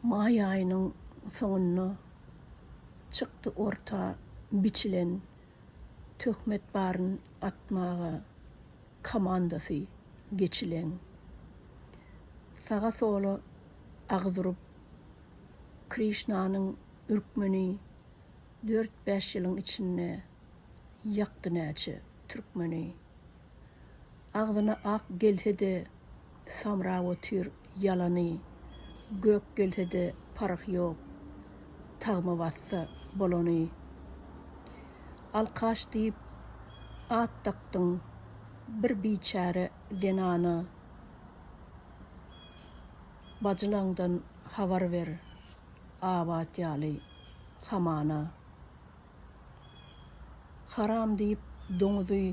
Maý aýynyň soňunda çykdy orta biçilen töhmet baryn atmaga komandasy geçileň. Saga-sola agyz urup, Krişnanyň ürkmeni dört-bäş ýylyň içinde ýakdy näçe türkmeni. Agzyna ak gelse-de samrap otyr ýalany gök gelse-de parh ýok tagma bassa bolany Alkaş diýip at dakdyň bir biçäre zenana Bajylaňdan habar ber abat ýaly hamana. Haram diýip doňuzy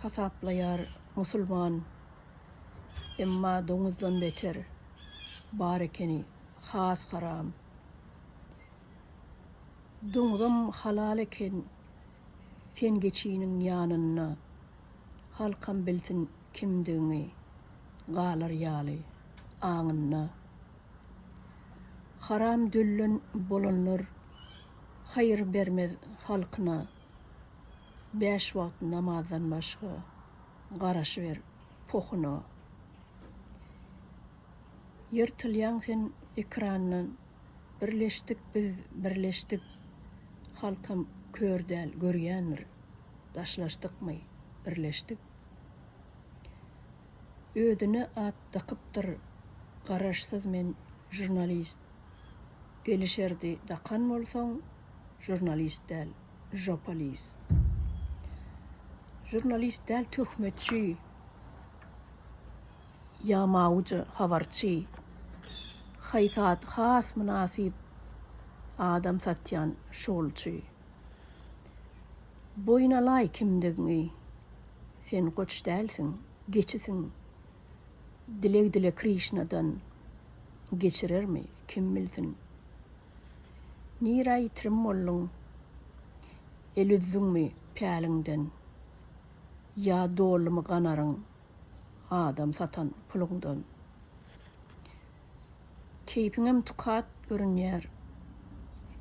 hasaplaýar musulman emma doňuzdan beter bar ekeni has haram. Doňuzam halal eken sen geçiniň ýanynda halkam bilsin kimdigiňi galar ýaly aňynda. Haram döllen bolanlar haýyr bermez halkyna bäş wagt namazdan başga garaşyber pohuna Ýyrtylýaň sen ekrandan birleşdik biz birleşdik halkam kör däl görýändir daşlaşdykmy birleşdik Özüne at dakypdyr garaşsyz men žurnalist gelişerdi dakan bolsaň žurnalist däl žopalis žurnalist däl töhmetçi ýamawja habarçy haý sat has mynasyp adam satýan şugulçy boýun alaý kimdigiňi Sen goç dälsiň, geçisiň. Dileg dile Krişnadan, geçirermi, kim bilsin. Nirä ýitirim bolduň? El üzdüňmi päliňden? Ýa dolumy ganaryň adam satan puluňdan? Keýpiňem tukat görünýär.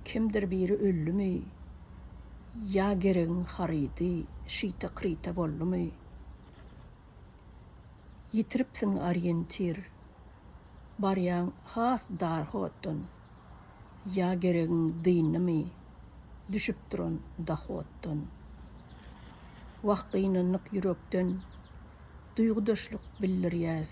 Kimdir biri öldümi? Ýa geregiň harydy şyta-kryta boldumy? Ýitiripsiň oriýentir. Barýaň has dar hotdan. Ýa geregiň dyndymy? Düşüp duran dahotdan. Wah gynandyk ýürekden. Duýgudaşlyk bildirýäs.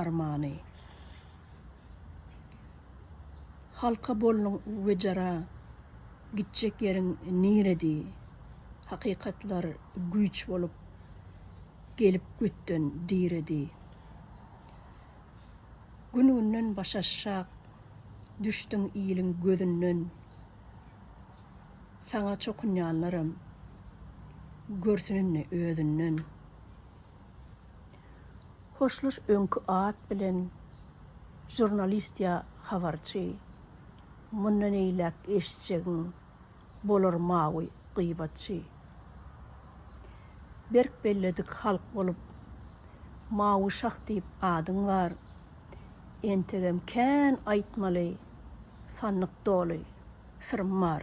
armany. Halka bolnuň wejera gitjek ýeriň niredi hakykatlar güýç bolup gelip götden diredi Gün günden başaşşak düşdiň iliň gözünden Saňa çokunýanlaram görsün indi özünden. Hoşlaş öňki at bilen žurnalist ýa habarçy mundan eýläk eşitjegiň bolar mawy gyýbatçy. Berk belledik halk bolup mawy şah diýip adyň bar entegem kän aýtmaly sandyk doly syrym bar.